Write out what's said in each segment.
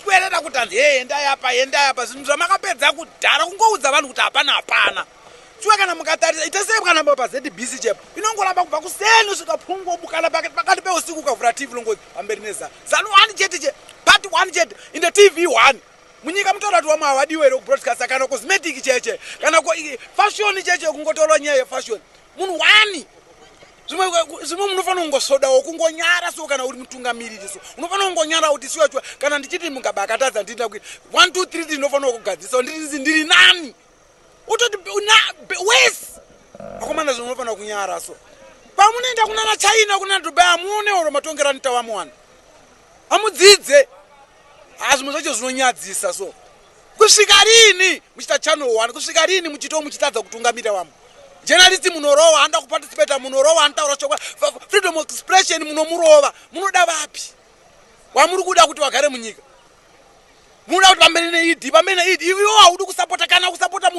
kwerera kuti hanzi hee endai apa endai apa zvinhu zvamakapedza kudhara kungoudza vanhu kuti hapana hapana shuwa kana mukatarisa itesei kana pa zbc chep inongoramba kubva kuseni usvika phungu obukana pakati pakati peusiku ukavhura tv longozi pamberi neza zanu one chete che part one chete in the tv one munyika mutoda kuti wamwe hawadiwe here kubroadcasta kana cosmetic cheche kana fashoni cheche kungotorwa nyaya yefashoni munhu wani zvimwe munofanira kungosodawo kungonyara so kana uri mutungamiriri so unofanira kungonyara kuti siwachiwa kana ndichiti mugabe akatadza ndinoda kuita one two three ndinofanira kugadzisa ndirizi ndiri nani utoti wes akomana zvimwe unofanira kunyara so pamunoenda kunana china kunana dubai amuone oro matongera nitawamuwana amudzidze hazvimwe zvacho zvinonyadzisa so kusvika rini muchita channel one kusvika rini muchito muchitadza kutungamira vamwe jenalisti munorowa anoda kuparticipata munorowa anotaura chokwa freedom of expression munomurova munoda vapi wamuri kuda kuti vagare munyika munoda kuti vamberi neid vamberi neid ivo haudi kusapota kana kusapota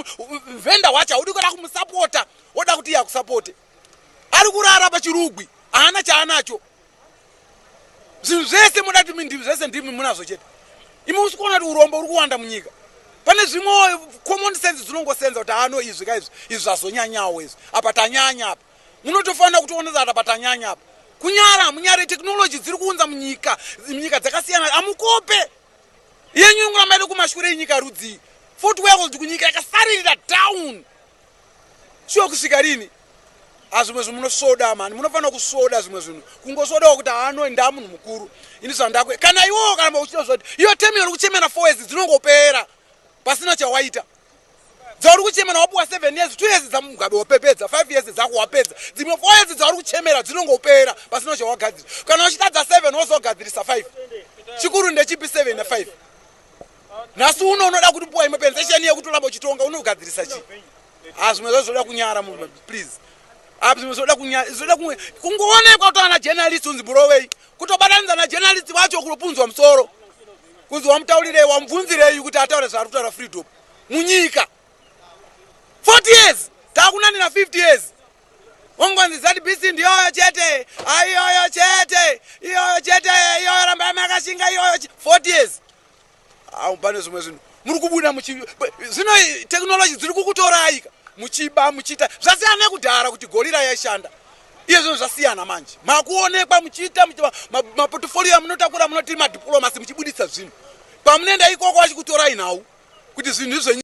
vhenda wacho haudi kuda kumusapota woda kuti iye akusapote ari kurara pachirugwi haana chaanacho zvinhu zvese moda kuti mindivi zvese ndimi munazvo chete imi usi kuona kuti urombo uri kuwanda munyika pane zvimwe common sense dzinongosenza kuti ano izvi ka izvi izvi zvazonyanyawo izvi apa tanyanya apa munotofanira kutoona kuti apa tanyanya apa kunyara hamunyare technology dziri kuunza munyika nyika dzakasiyana amukope yenyu inguramba iri kumashure inyika rudzii fort world kunyika yakasaririra down Sure kusvika rini? Hazvimwe zvinhu munosvoda mani, munofanira kusvoda zvimwe zvinhu. Kungosvodawo kuti haano ndaa munhu mukuru. Ini zvandakwe. Kana iwowo kana uchida zvoti, iyo temi yori kuchemera 4 years dzinongopera. Pasina chawaita. Dzauri kuchemera wapuwa 7 years, 2 years dzamugabe wapepedza, 5 years dzako wapedza. Dzimwe 4 years dzauri kuchemera dzinongopera pasina chawagadzira. Kana uchitadza 7 wozogadzirisa 5. Chikuru ndechipi 7 na 5? nhasi uno unoda kuti puwa imwe pensesheni yekutoramba uchitonga unogadzirisa chii ha ah, zvimwe zva zvoda kunyara munhu please apa ah, zvimwe zvoda kunyara zvoda kunge kungoonekwa kuto ana journalist unzi burovei kutobatanidza na journalist wacho kunopunzwa musoro kunzi wamutaurirei wamubvunzirei kuti ataure zvaari kutaura freedom munyika 40 years takunanira 50 years Ungonzi ZBC ndiyoyo chete, aiyoyo chete, iyoyo chete, iyoyo rambai makashinga iyoyo 40 years. Au pane zvimwe zvinhu muri kubuda muchi zvino technology dziri kukutoraika muchiba muchiita zvasiyana nekudhara kuti gorira yaishanda iye zvinhu zvasiyana manje makuonekwa muchiita maportfolio amunotakura munoti madiplomasi muchibuditsa zvinhu pamunoenda ikoko vachikutorai nhau kuti zvinhu izvenyu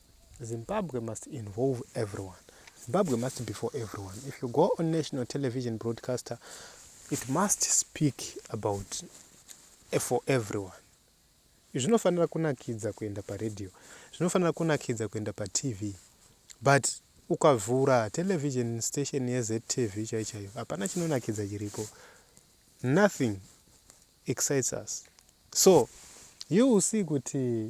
Zimbabwe must involve everyone. Zimbabwe must be for everyone. If you go on national television broadcaster, it must speak about eh, for everyone. Zvinofanira kunakidza kuenda paradio, zvinofanira kunakidza kuenda patv, but ukavhura television station yeZTV chai chaiyo, hapana chinonakidza chiripo. Nothing excites us. So you will see kuti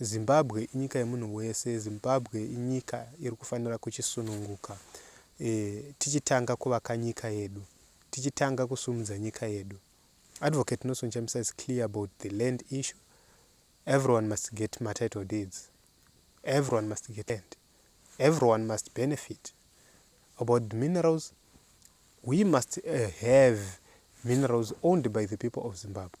Zimbabwe inyika yemunhu wese, Zimbabwe inyika iri kufanira kuchisununguka e, tichitanga kuvaka nyika yedu, tichitanga kusumudza nyika yedu. Advocate Nelson Chamisa is clear about the land issue. Everyone must get ma title deeds. Everyone must get land. Everyone must benefit. About the minerals, we must uh, have minerals owned by the people of Zimbabwe.